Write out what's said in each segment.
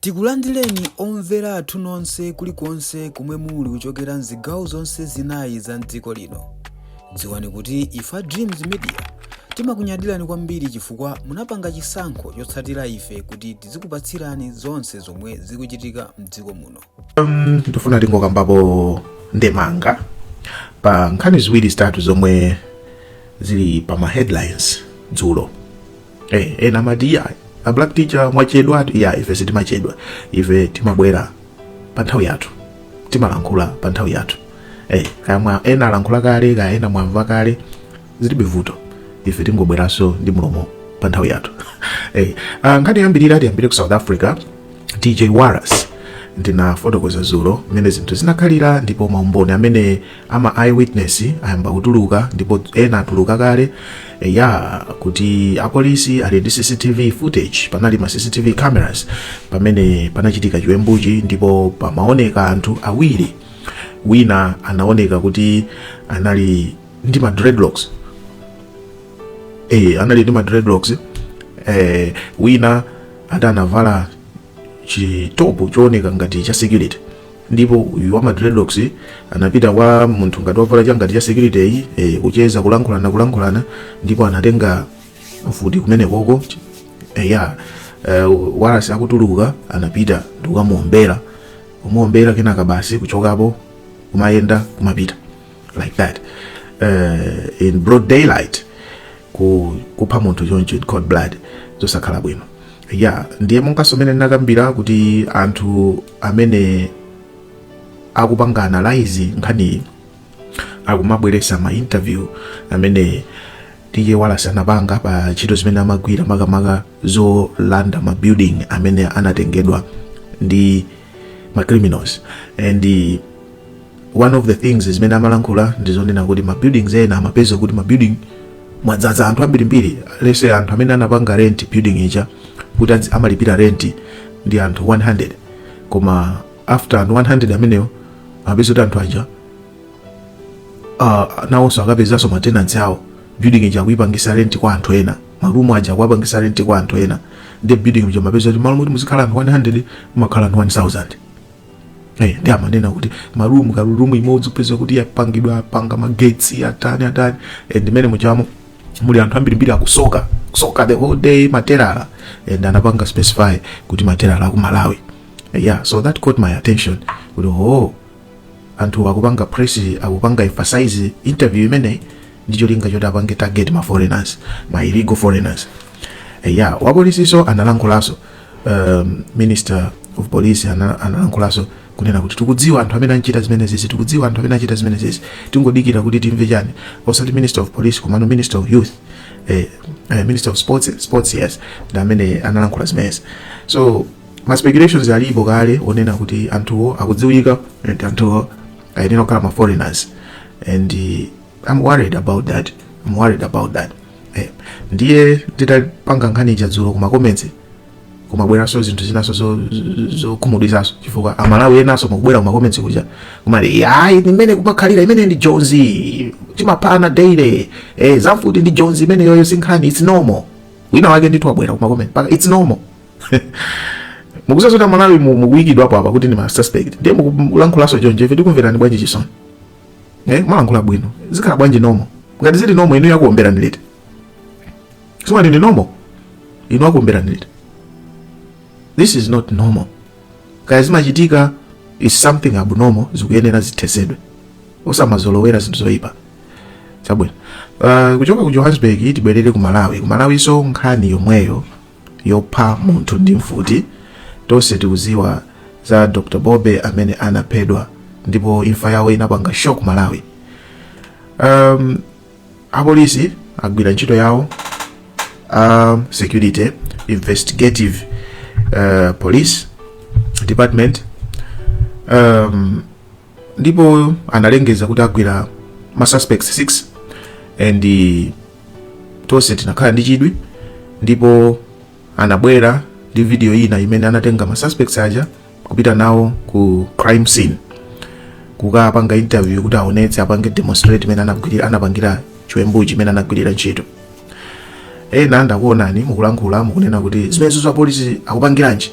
Tikulandileni omvera athu nonse kulikonse komwe muli kuchokera mzigawo zonse zinayi za mdziko lino. Dziwani kuti ife a Dreams Media timakunyadilani kwambiri chifukwa munapanga chisankho chotsatira ife kuti tizikupatsirani zonse zomwe zikuchitika mdziko muno. Um, ndifuna tingokambapo ndemanga pa nkhani ziwiri zitatu zomwe zili pa ma headlines dzulo eh ena amati iya a black teacher mwachedwa ati iya ife sitimachedwa ife timabwera pa nthawi yathu timalankhula pa nthawi yathu eh kaya mwa ena alankhula kale kaya ena mwamva kale zilibe vuto ife tingobweranso ndi mlomo pa nthawi yathu eh ah, nkhani tiyambirire tiyambire ku south africa dj waras ndinafotokoza dzulo mmene zinthu zinakhalira ndipo maumboni amene ama eye witness ayamba kutuluka ndipo ena atuluka kale ya kuti apolisi ali ndi cctv footage panali ma cctv cameras pamene panachitika chiwembuchi ndipo pamaoneka anthu awiri wina anaoneka kuti anali ndi ma dreadlocks eh anali ndi ma dreadlocks eh wina ati anavala chitopu chooneka ngati cha security ndipo uyu wa madreadlocks anapita kwa munthu ngati wavala cha ngati cha security iyi e, kucheza kulankhulana kulankhulana ndipo anatenga mfuti kumenekoko e, ya e, Waras akutuluka anapita ndikukamuombera kumuombera kenaka basi kuchokapo kumayenda kumapita like that uh, in broad daylight ku kupha munthu choncho in cold blood zosakhala bwino ya ndiye monganso mmene ndinakambira kuti anthu amene akupanga analyze nkhani akumabweresa ma interview amene DJ Waras anapanga pa ntchito zimene amagwira makamaka zolanda ma building amene anatengedwa ndi ma criminals and one of the things zimene amalankhula ndi zonena kuti ma buildings ena amapeza kuti ma building mwadzaza anthu ambirimbiri lese anthu amene anapanga rent building ija kuti adzi- amalipira rent ndi anthu 100 koma after anthu 100 amenewo amapeza kuti anthu aja uh, nawonso akapezanso matenansi awo building ija akuyipangisa rent kwa anthu ena marumu aja akuwapangisa rent kwa anthu ena ndi building ija mapeza kuti malo moti muzikhala anthu 100 mumakhala anthu 1000 Hey, eh, ndi amanena kuti marumu karumu imodzi upeza kuti yapangidwa apanga magetsi atani atani and eh, ndimene muchamo muli anthu ambirimbiri akusoka kusoka the whole day materala and eh, anapanga specify kuti materala a ku Malawi yeah so that caught my attention kuti oh anthu akupanga press akupanga emphasize interview imene ndi cholinga choti apange target ma foreigners ma illegal foreigners yeah wapolisiso analankhulaso um, minister of police analankhulaso ana kunena kuti tikudziwa anthu amene achita zimenezizi tikudziwa anthu amene achita zimenezizi tingodikira kuti timve chani osati minister of police komano minister of youth eh, eh, minister of sports sports yes ndi amene analankhula zimenezi so ma speculations alipo kale onena kuti anthuwo akudziwika and anthuwo ayenera kukhala ma foreigners and uh, i'm worried about that i'm worried about that eh, ndiye nditapanga nkhani ija dzulo kuma comments kumabweranso zinthu zinaso zokhumudwitsanso chifukwa amalawi enaso mukubwera kuma comments kuja kumati yayi mmene kumakhalira imene ndi jonzi timaphana daily eh, zamfuti ndi jonzi imeneyoyo sinkhani its normal wina wake ndithu wabwera kuma comments mpaka its normal mukuziwa zoti amalawi mukuyikidwapo apa kuti ndi ma suspect ndiye mukulankhulanso choncho ife tikumverani bwanji chisoni eh mwalankhula bwino zikhala bwanji normal ngati zili normal inu akuomberani lete soma ndi normal inu akuomberani lete this is not normal kaya zimachitika is something abnormal zikuyenera zithesedwe osamazolowera zinthu zoyipa chabwino uh, kuchoka ku johannesburg tibwerere ku malawi ku malawiso nkhani yomweyo yopha munthu ndi mfuti tonse tikuziwa za dr bobe amene anaphedwa ndipo imfa yawo inapanga shock malawi um, apolisi agwira ntchito yawo um, security investigative uh, police department um, ndipo analengeza kuti agwira ma suspects 6 and eh, tonse tinakhala ndi chidwi ndipo anabwera ndi video ina imene anatenga ma suspects aja kupita nawo ku crime scene kukapanga interview kuti aonetse apange demonstrate mmene anagwirira anapangira chiwembuchi mmene anagwirira ntchito ena ndakuonani mukulankhula mukunena kuti zimenezizi apolisi akupangiranji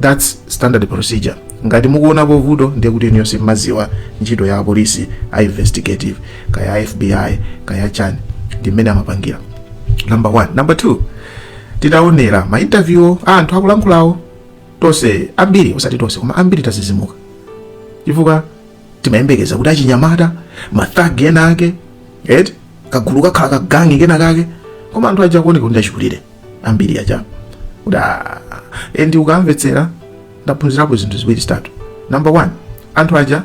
that's standard procedure ngati mukuonapo vuto ndiye kuti inuyo simmaziwa ntchito ya apolisi a investigative kaya a fbi kaya chani ndi mmene amapangira number one number two titaonera ma interview a anthu akulankhulawo tonse ambiri osati tonse koma ambiri tazizimuka chifukwa timayembekeza kuti achinyamata mathagi ena ake eti kagulu kakhala kagangi kena kake koma anthu aja akuoneka kuti achikulire ambiri aja kuti "Ah, eh, and ukamvetsera ndaphunzirapo zinthu ziwiri zitatu number one anthu aja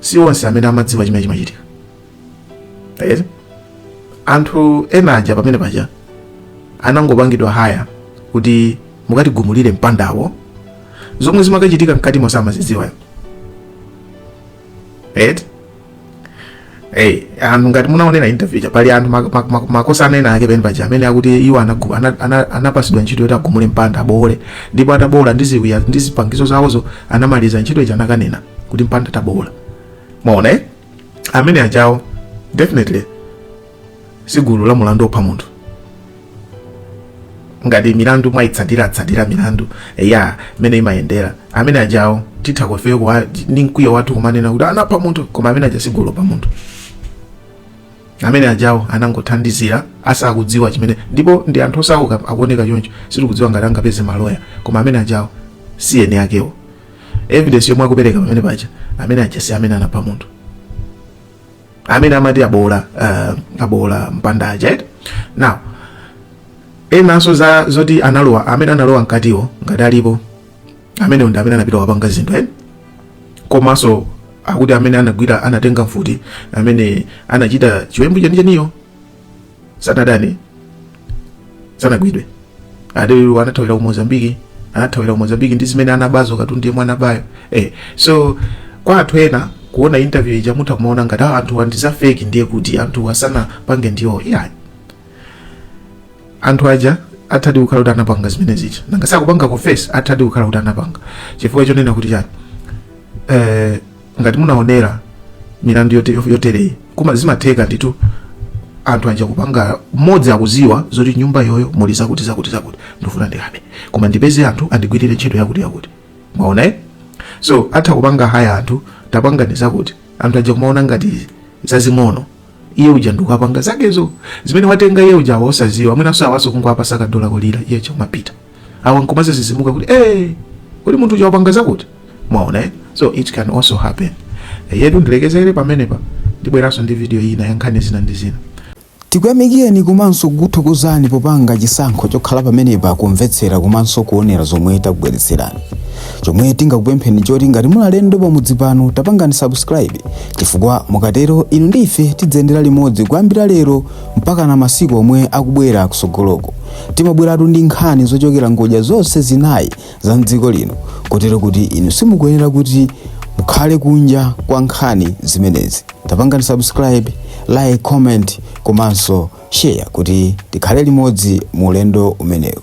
si onse amene amadziwa chimene chimachitika Right? anthu ena aja pamene paja anangopangidwa hire kuti mukatigumulire mpandawo zomwe zimakachitika mkatimo samazidziwa right? Hey, anthu ngati munaonera interview ija pali anthu mak- mak- mak- makosa anena ake pamene paja amene akuti iwo anagu- ana- ana- anapasidwa ntchito yoti agumule mpanda aboole ndipo ataboola ndi ziwiya ndi zipangizo zawozo anamaliza ntchito ija anakanena kuti mpanda taboola mwaona eh? amene ajawo definitely si gulu la mulandu opha munthu ngati milandu mwaitsatiratsatira milandu mmene imayendera amene ajawo titha ifeyo kukhala ni mkwiyo wathu kumanena kuti anapha munthu koma amene aja si gulu lopha munthu amene ajawo anangothandizira asakudziwa chimene ndipo ndi anthu osauka akuoneka choncho sitikudziwa ngati angapeze maloya koma amene ajawo si eni akewo evidence yomwe akupereka pamene paja amene aja si amene anapha munthu amene amati aboola uh, aboola mpanda aja eh now enanso za zoti analowa amene analowa mkatiwo ngati alipo amene ndi amene anapita kwapanga zinthu eh komanso akuti amene anagwira anatenga mfuti amene anachita chiwembu chenicheniwo sanadane sanagwidwe ade anathawira ku mozambiki anathawira ku mozambiki ndi zimene anabazo katundu yemwe anabayo eh, so kwa anthu ena kuona interview ija mutha kumaona ngati "Ah, anthu ah ndi za fake ndiye kuti anthu aja sanapange ndiwo yeah. anthu aja athadi kukhala kuti anapanga zimene zija nanga si akupanga confess athadi kukhala kuti anapanga chifukwa chonena kuti chani eh, ngati munaonera milandu yote- yotereyi koma zimatheka ndithu anthu aja kupanga mmodzi akuziwa zoti nyumba iyoyo muli zakuti zakuti zakuti ndifuna ndikabe koma ndipeze anthu andigwirire ntchito yakuti yakuti mwaona eh? so atha kupanga haya anthu tapangani zakuti anthu aja kumaona ngati zazing'ono iye uja ndikupanga zakezo zimene watenga iye uja awo osaziwa mwinanso awoso kungowapasa kadola kodyera iye uja kumapita awa nkumazazizimuka kuti eh kodi munthu uja wapanga zakuti mwaona eh? so it can also happen Eh, ndiyetu ndilekezere pamenepa ndibweranso ndi video ina ya nkhani zina ndi zina tikuyamikeni komanso kukuthokozani popanga chisankho chokhala pamenepa kumvetsera komanso kuonera zomwe takubweretserani chomwe tingakupempheni choti ngati muli alendo pamudzi pano tapangani subscribe chifukwa mukatero inu ndi ife tidziyendera limodzi kuyambira lero mpaka na masiku omwe akubwera kusogoloko timabweratu ndi nkhani zochokera ngodya zonse zinayi za mdziko lino kotero kuti inu simukuyenera kuti mukhale kunja kwa nkhani zimenezi tapangani subscribe like comment komanso share kuti tikhale limodzi mu ulendo umenewu